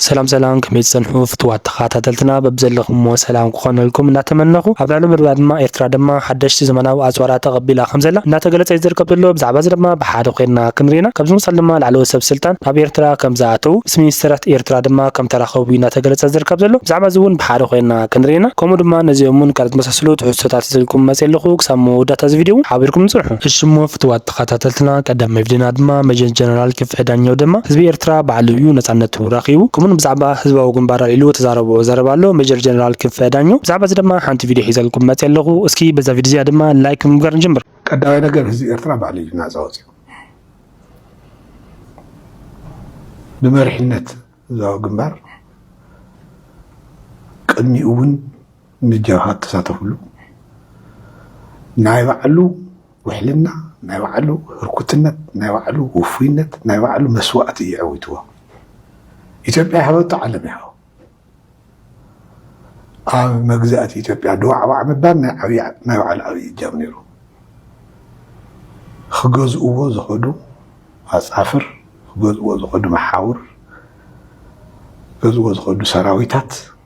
ሰላም ሰላም ከመይ ትጸንሑ ፍትዋት ተኻታተልትና በብዘለኹሞ ሰላም ክኾነልኩም እናተመነኹ ኣብ ልዕሊ ምርድዳ ድማ ኤርትራ ድማ ሓደሽቲ ዘመናዊ ኣጽዋራት ተቐቢላ ከምዘላ እናተገለጸ እዩ ዝርከብ ዘሎ ብዛዕባ እዚ ድማ ብሓደ ኮይንና ክንሪና ካብዚ ምሳል ድማ ላዕለዎት ሰብ ስልጣን ናብ ኤርትራ ከምዝኣተዉ ምስ ሚኒስተራት ኤርትራ ድማ ከምተራኸቡ እዩ እናተገለጸ ዝርከብ ዘሎ ብዛዕባ እዚ ውን ብሓደ ኮይንና ክንሪና ከምኡ ድማ ነዚኦምን ካልኦት ዝመሳሰሉ ትሕዝቶታት ሒዘልኩም መጽየ ኣለኹ ክሳብ መወዳእታ እዚ ቪድዮ ውን ሓቢርኩምኒ ጽንሑ እሺ እሞ ፍትዋት ተኸታተልትና ቀዳም መቪድና ድማ መጀር ጀነራል ክፍዒ ዳኘው ድማ ህዝቢ ኤርትራ ባዕሉ እዩ ነጻነቱ ረኺቡ ክሙን ብዛዕባ ህዝባዊ ግንባር ኣልዒሉ ተዛረቦ ዘረባ ኣሎ መጀር ጀነራል ክፍዒ ዳኘው ብዛዕባ እዚ ድማ ሓንቲ ቪድዮ ሒዘልኩም መጽ ኣለኹ እስኪ በዛ ቪድዮ እዚኣ ድማ ላይክ ብምግባር ንጀምር ቀዳማይ ነገር ህዝቢ ኤርትራ ባዕሉ እዩ ናጻ ወጺኡ ብመሪሕነት ህዝባዊ ግንባር ቅድሚኡ እውን ምጃኻ ኣተሳተፍሉ ናይ ባዕሉ ውሕልና ናይ ባዕሉ ህርኩትነት ናይ ባዕሉ ውፉይነት ናይ ባዕሉ መስዋእቲ እዩ ዐዊትዎ ኢትዮጵያ ይሃበቶ ዓለም ይሃቦ ኣብ መግዛእቲ ኢትዮጵያ ድዋዕዋዕ ምባል ናይ ዓብይ ናይ ባዕሉ ዓብይ እጃም ነይሩ ክገዝእዎ ዝኸዱ ኣፃፍር ክገዝእዎ ዝኸዱ መሓውር ክገዝእዎ ዝኸዱ ሰራዊታት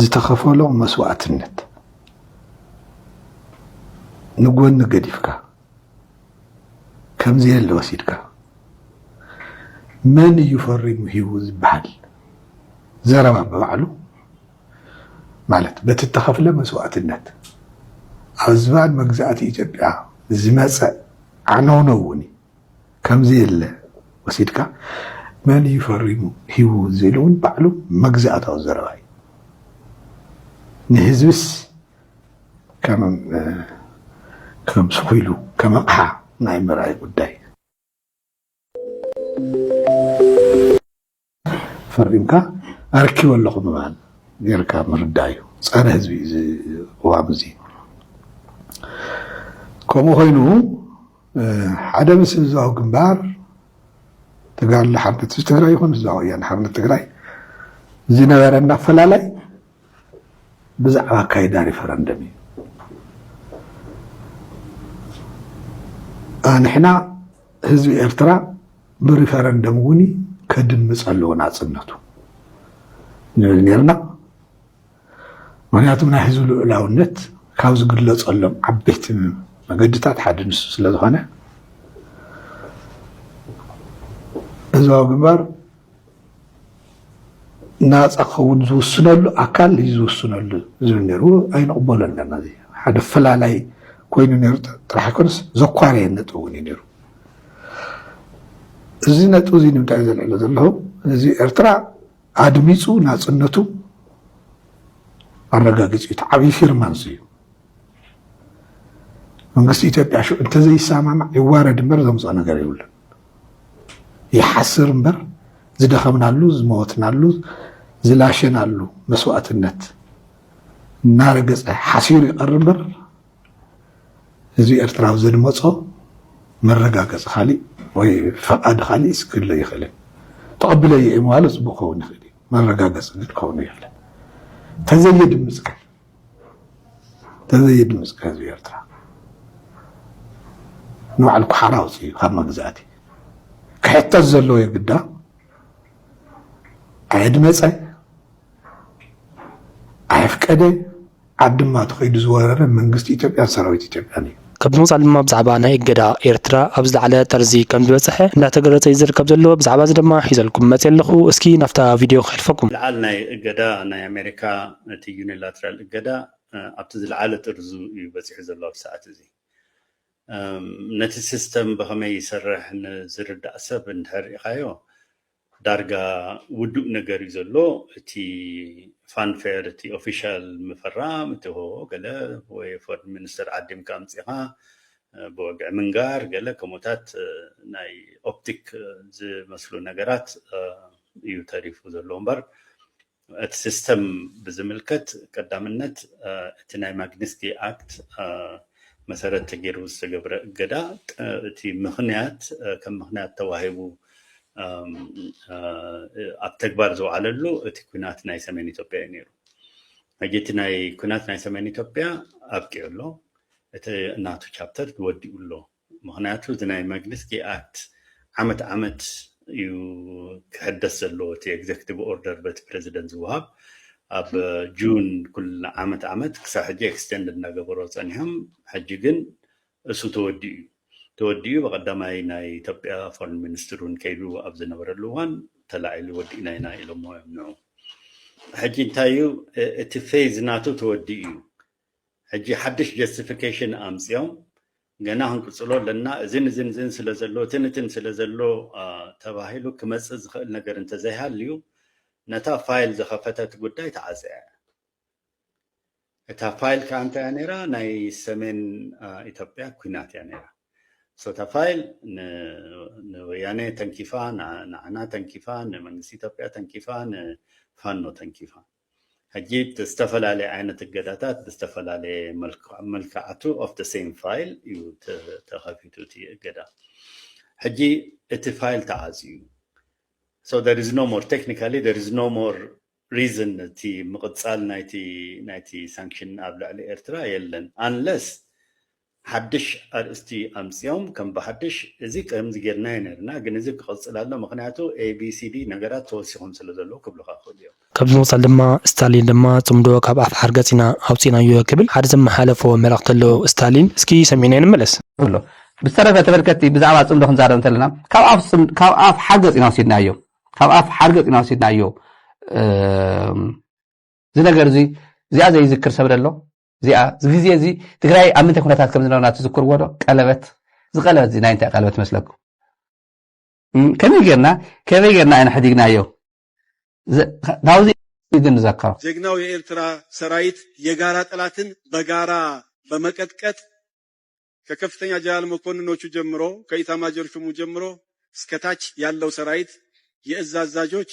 ዝተኸፈሎ መስዋእትነት ንጎኒ ገዲፍካ ከምዘየለ ወሲድካ መን እዩ ፈሪሙ ሂቡ ዝበሃል ዘረባ ብባዕሉ ማለት በቲ እተኸፍለ መስዋእትነት ኣብ ዝባን መግዛእቲ ኢትዮጵያ ዝመፀ ዓነውነው እውን እዩ። ከምዘየለ ወሲድካ መን እዩ ፈሪሙ ሂቡ ዝብል እውን ባዕሉ መግዛእታዊ ዘረባ እዩ። ንህዝብስ ከም ስኩ ኢሉ ከም ኣቕሓ ናይ ምርኣይ ጉዳይ እዩ። ፈሪምካ ኣርኪበ ኣለኹ ምባል ጌርካ ምርዳእ እዩ። ጸረ ህዝቢ እዩ እዚ ቅዋም እዚ። ከምኡ ኮይኑ ሓደ ምስ ህዝባዊ ግንባር ተጋድሎ ሓርነት ህዝቢ ትግራይ ይኹን ህዝባዊ ወያነ ሓርነት ትግራይ ዝነበረና ኣፈላላይ ብዛዕባ ኣካይዳ ሪፈረንደም እዩ። ኣንሕና ህዝቢ ኤርትራ ብሪፈረንደም እውን ከድምፅ ኣለዎ ናፅነቱ ንብል ነይርና። ምክንያቱ ናይ ህዝቢ ልዑላውነት ካብ ዝግለፀሎም ዓበይቲ መገድታት ሓደ ንሱ ስለዝኾነ ህዝባዊ ግንባር ናፃ ክኸውን ዝውስነሉ ኣካል እዩ ዝውስነሉ ዝብል ነይሩ ኣይንቕበሎን ነርና ሓደ ፈላላይ ኮይኑ ነይሩ ጥራሕ ኣይኮነስ ዘኳረየ ነጥቢ እውን እዩ ነይሩ እዚ ነጥቢ እዚ ንምንታይ ዘልዕሎ ዘለኹ ህዝቢ ኤርትራ ኣድሚፁ ናፅነቱ ኣረጋጊፁ እዩ። እቲ ዓብዪ ፊርማ እዚ እዩ። መንግስቲ ኢትዮጵያ ሽዑ እንተዘይሰማማዕ ይዋረድ እምበር ዘምፅኦ ነገር የብሉን። ይሓስር እምበር ዝደኸምናሉ፣ ዝመወትናሉ፣ ዝላሸናሉ መስዋእትነት እናረገፀ ሓሲሩ ይቐር እምበር ህዝቢ ኤርትራ ኣብ ዘድመጾ መረጋገጺ ካሊእ ወይ ፈቃድ ካሊእስ ክህሉ ኣይክእልን። ተቀቢለዮ እየ ምባሉ ጽቡቅ ክኸውን ይኽእል እዩ፣ መረጋገጺ ግን ክኸውን ኣይክእልን። ተዘየድምጽ ግን ተዘየድምጽ ግን ህዝቢ ኤርትራ ንባዕሉ ኩሓራ ኣውጺኡ እዩ ካብ መግዛእቲ ክሕተት ዘለዎ የግዳ ኣየድመጸ ኣየፍቀደ ዓዲ ድማ እቲ ከይዱ ዝወረረ መንግስቲ ኢትዮጵያን ሰራዊት ኢትዮጵያን እዩ። ካብ ብምቕፃል ድማ ብዛዕባ ናይ እገዳ ኤርትራ ኣብ ዝለዓለ ጠርዚ ከም ዝበፀሐ እንዳተገለፀ እዩ ዝርከብ ዘሎ። ብዛዕባ እዚ ድማ ሒዘልኩም መፅየ ኣለኹ። እስኪ ናብታ ቪድዮ ከሕልፈኩም። ምልዓል ናይ እገዳ ናይ ኣሜሪካ እቲ ዩኒላትራል እገዳ ኣብቲ ዝለዓለ ጥርዙ እዩ በፂሑ ዘሎ ኣብዚ ሰዓት እዚ። ነቲ ሲስተም ብኸመይ ይሰርሕ ንዝርዳእ ሰብ እንድሕር ሪኢኻዮ ዳርጋ ውዱእ ነገር እዩ ዘሎ እቲ ፋንፌር እቲ ኦፊሻል ምፍራም እቲ ሆ ገለ ወይ ፎርድ ሚኒስተር ዓዲምካ ኣምፂኻ ብወግዒ ምንጋር ገለ ከምኡታት ናይ ኦፕቲክ ዝመስሉ ነገራት እዩ ተሪፉ ዘሎ እምበር እቲ ሲስተም ብዝምልከት ቀዳምነት እቲ ናይ ማግኒስኪ ኣክት መሰረት ተገይሩ ዝተገብረ እገዳ እቲ ምክንያት ከም ምክንያት ተዋሂቡ ኣብ ተግባር ዝውዓለሉ እቲ ኩናት ናይ ሰሜን ኢትዮጵያ እዩ ነይሩ ሕጂ እቲ ናይ ኩናት ናይ ሰሜን ኢትዮጵያ ኣብቂዑ ኣሎ እቲ እናቱ ቻፕተር ወዲኡ ኣሎ ምክንያቱ እቲ ናይ መግንስቲ ኣክት ዓመት ዓመት እዩ ክሕደስ ዘለዎ እቲ ኤግዘክቲቭ ኦርደር በቲ ፕረዚደንት ዝወሃብ ኣብ ጁን ኩል ዓመት ዓመት ክሳብ ሕጂ ኤክስቴንድ እናገበሮ ፀኒሖም ሕጂ ግን እሱ ተወዲኡ እዩ ተወዲኡ ብቀዳማይ ናይ ኢትዮጵያ ፎረን ሚኒስትር እውን ከይዱ ኣብ ዝነበረሉ እዋን ተላዒሉ ወዲእና ኢና ኢሎሞ እዮም ንዑ ሕጂ እንታይ እዩ እቲ ፌዝ ናቱ ተወዲኡ እዩ ሕጂ ሓድሽ ጀስቲፊኬሽን ኣምፅኦም ገና ክንቅጽሎ ኣለና እዝን እዝን እዝን ስለ ዘሎ እትን እትን ስለ ዘሎ ተባሂሉ ክመጽእ ዝኽእል ነገር እንተዘይሃልዩ ነታ ፋይል ዝኸፈተት ጉዳይ ተዓጽያ እያ እታ ፋይል ከዓ እንታይ እያ ነይራ ናይ ሰሜን ኢትዮጵያ ኩናት እያ ነይራ ሶታ ፋይል ንወያነ ተንኪፋ ንዓና ተንኪፋ ንመንግስቲ ኢትዮጵያ ተንኪፋ ንፋኖ ተንኪፋ ሕጂ እቲ ዝተፈላለየ ዓይነት እገዳታት ብዝተፈላለየ መልክዓቱ ኦፍ ደ ሴም ፋይል እዩ ተኸፊቱ እቲ እገዳ ሕጂ እቲ ፋይል ተዓፅዩ እዩ So there is no more, technically there is no more reason እቲ ምቕጻል ናይቲ ናይቲ ሳንክሽን ኣብ ልዕሊ ኤርትራ የለን unless ሓድሽ ኣርእስቲ ኣምጺኦም ከም ብሓድሽ እዚ ከምዚ ጌርናዮ ኔርና ግን እዚ ክቕጽል ኣሎ ምኽንያቱ ABCD ነገራት ተወሲኾም ስለ ዘለዉ ክብሉኻ ይኽእሉ እዮም። ካብዚ ብምቕጻል ድማ ስታሊን ድማ ጽምዶ ካብ ኣፍ ሓርገጽ ኢና ኣውጺእናዮ ክብል ሓደ ዘመሓለፎ መልእኽቲ ኣሎ ስታሊን እስኪ ሰሚዕናዮ ንመለስ። እብሎ። ብዝተረፈ ተመልከትቲ ብዛዕባ ጽምዶ ክንዛረብ እንተለና ካብ ኣፍ ጽም ካብ ኣፍ ሓርገጽ ኢና ወሲድናዮ ካብ ኣፍ ሓርገጽ ኢና ወሲድናዮ እዚ ነገር እዚ እዚኣ ዘይዝክር ሰብ ደሎ እዚኣ እዚ ግዜ እዚ ትግራይ ኣብ ምንታይ ኩነታት ከም ዝነበርና ትዝክርዎ ዶ ቀለበት እዚ ቀለበት እዚ ናይ እንታይ ቀለበት መስለኩም ከመይ ጌርና ከመይ ጌርና ኢና ሕዲግናዮ ናብዚ ግን ንዘከሮ ጀግናው የኤርትራ ሰራይት የጋራ ጠላትን በጋራ በመቀጥቀጥ ከከፍተኛ ጀነራል መኮንኖቹ ጀምሮ ከኢታማጆር ሹሙ ጀምሮ እስከታች ያለው ሰራይት የእዝ አዛዦች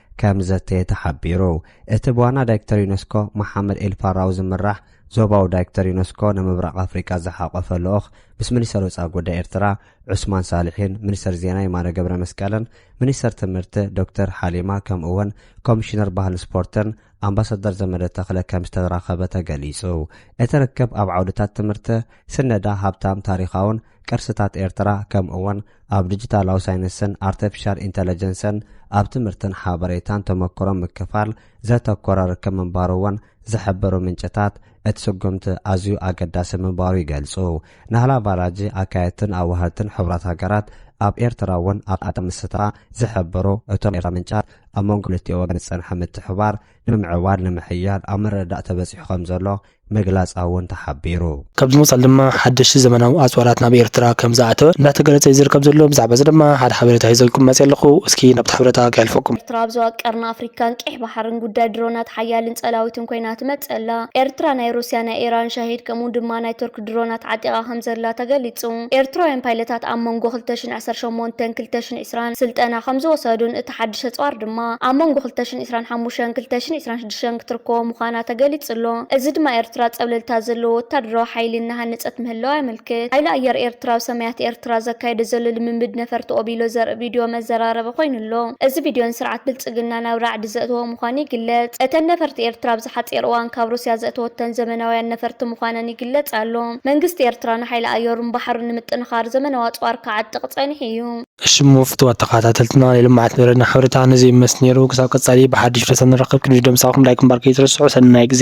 ከም ዘተ ተሓቢሩ። እቲ ብዋና ዳይክተር ዩነስኮ መሓመድ ኤል ፋራዊ ዝምራሕ ዞባዊ ዳይክተር ዩነስኮ ንምብራቕ ኣፍሪቃ ዝሓቖፈ ልኡኽ ምስ ሚኒስተር ወጻኢ ጉዳይ ኤርትራ ዑስማን ሳልሒን ሚኒስተር ዜና የማነ ገብረመስቀልን ሚኒስተር ትምህርቲ ዶክተር ሓሊማ ከምኡ'ውን ኮሚሽነር ባህልን ስፖርትን ኣምባሳደር ዘመደ ተኽለ ከም ዝተራኸበ ተገሊጹ። እቲ ርክብ ኣብ ዓውድታት ትምህርቲ፣ ስነዳ፣ ሃብታም ታሪኻውን ቅርስታት ኤርትራ ከምኡ'ውን ኣብ ዲጂታላዊ ሳይንስን ኣርተፊሻል ኢንተለጀንስን ኣብ ትምህርትን ሓበሬታን ተመክሮ ምክፋል ዘተኮረ ርክብ ምንባሩ እውን ዝሕብሩ ምንጭታት እቲ ስጉምቲ ኣዝዩ ኣገዳሲ ምንባሩ ይገልጹ። ናህላ ቫላጂ ኣካየድትን ኣዋሃድትን ሕቡራት ሃገራት ኣብ ኤርትራ እውን ኣብ ኣታ ምስታ ዝሕብሩ እቶም ኤርትራ ምንጫት ኣብ መንጎ ክልቲኦ ወገን ዝጸንሐ ምትሕባር ንምምዕባል ንምሕያል ኣብ ምርድዳእ ተበጺሑ ከም ዘሎ ምግላጻ እውን ተሓቢሩ። ካብዚ ብምቕጻል ድማ ሓደሽቲ ዘመናዊ ኣጽዋራት ናብ ኤርትራ ከም ዝኣተወ እንዳተገለጸ እዩ ዝርከብ ዘሎ። ብዛዕባ እዚ ድማ ሓደ ሓበሬታ ሒዘልኩም መጺኣ ኣለኹ። እስኪ ናብቲ ሓበሬታ ከሕልፈኩም። ኤርትራ ኣብ ዞባ ቀርኒ ኣፍሪካን ቀይሕ ባሕርን ጉዳይ ድሮናት ሓያልን ጸላዊትን ኮይና ትመጽእ ኣላ። ኤርትራ ናይ ሩስያ፣ ናይ ኢራን፣ ሻሂድ ከምኡ ድማ ናይ ቱርክ ድሮናት ዓጢቓ ከም ዘላ ተገሊጹ። ኤርትራውያን ፓይለታት ኣብ መንጎ ክልተ ሽሕን ዓሰርተ ሸሞንተን ክልተ ሽሕን ዕስራን ስልጠና ከም ዝወሰዱን እቲ ሓድሽ ኣጽዋር ድማ ኣብ መንጎ ክልተ ሽሕን ዕስራን ሓሙሽተን ክልተ ሽሕን ዕስራን ሸን ክትርከቦ ምዃና ተገሊጹ ኣሎ። እዚ ድማ ኤርትራ ጸብለልታ ዘለዎ ወተሃደራዊ ሓይሊ እናሃነጸት ምህላዋ የመልክት። ሓይሊ ኣየር ኤርትራ ኣብ ሰማያት ኤርትራ ዘካይዶ ዘሎ ልምምድ ነፈርቲ ኦቢሎ ዘርኢ ቪድዮ መዘራረቢ ኮይኑ ኣሎ። እዚ ቪድዮ ንስርዓት ብልጽግና ናብ ራዕዲ ዘእተዎ ምዃኑ ይግለጽ። እተን ነፈርቲ ኤርትራ ኣብዚ ሓጺር እዋን ካብ ሩስያ ዘእተወተን ዘመናውያን ነፈርቲ ምዃነን ይግለጽ ኣሎ። መንግስቲ ኤርትራ ንሓይሊ ኣየሩን ባሕሩን ንምጥንኻር ዘመናዊ ኣጽዋር ክዓጥቕ ጸኒሑ እዩ። እሺ እሞ ፍትዋት ተካታተልትና ናይ ልምዓት መደብና ሕብርታ ነዚ ይመስ ነይሩ ክሳብ ቀፃሊ ብሓድሽ ርእሰ ንራከብ ክንድዲ ምሳኩም ላይክ ምግባር ከይትረስዑ ሰናይ ግዜ።